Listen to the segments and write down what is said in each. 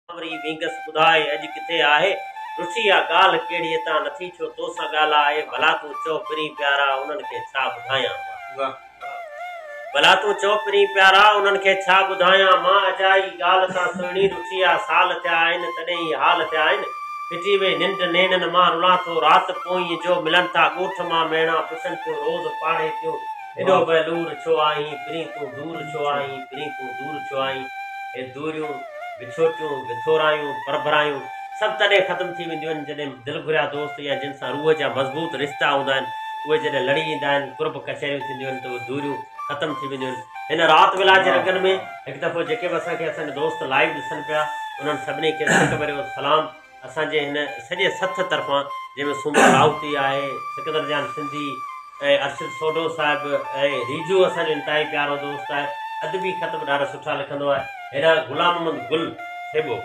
سانوري وينگس ٻڌاء اڄ ڪٿي آهي؟ رسي آ ڳالهه ڪهڙي اتان نٿي ڇو تو سان ڳالهه آهي ڀلا تون چؤ پرين پيارا انهن کي ڇا ٻڌايان مان ڀلا تون چؤ پرين پيارا انهن کي ڇا ٻڌايان مان اجائي ڳالهه تان سهڻي رسي آ سال ٿيا آهن تڏهن هي حال ٿيا آهن ڦٽي وئي ننڊ نينن مان رلان ٿو رات پوئين جو ملن ٿا ڳوٺ مان ميڻا پڇن ٿيون روز پاڙهي ٿيون ايڏو بي لور ڇو آهين، پرين تون دور ڇو آهين، پرين تون دور ڇو آهين، هي دوريون، وڇوٽيون، وٿورايون، پرڀرايون سڀ تڏهن ختم ٿي وينديون آهن جڏهن دل گهريا دوست يا جن سان روح جا مضبوط رشتا هوندا آهن اهي جڏهن لڙي ايندا آهن قرب ڪچهريون ٿينديون آهن ته اهي دوريون ختم ٿي وينديون آهن هن رات ويلا جي رڳن ۾ هڪ دفعو جيڪي به اسان کي اسان جا دوست لائيو ڏسن پيا انهن سڀني کي سڪ ڀريو سلام. اسان جي هن سڄي سٿ طرفان جنهن ۾ سومو راوتي آهي، سڪندر جان سنڌي ۽ ارشد سوڍو صاحب ۽ ريجو اسان جو انتهائي پيارو دوست آهي، ادبي خط به ڏاڍا سٺا لکندو آهي. هيڏانهن غلام محمد گل ٿيٻو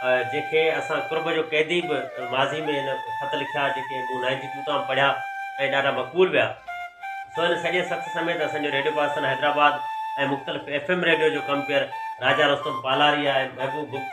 جنهن کي اسان قرب جو قيدي به ماضي ۾ هن خط لکيا جيڪي مون نائنٽي ٽو تان پڙهيا ۽ ڏاڍا مقبول ويا. سو هن سڄي سٿ سميت اسان جو ريڊيو پاڪستان حيدرآباد ۽ مختلف ايف ايم ريڊيو جو ڪمپيئر راجا رستم پالاريا ۽ محبوب بگٽي،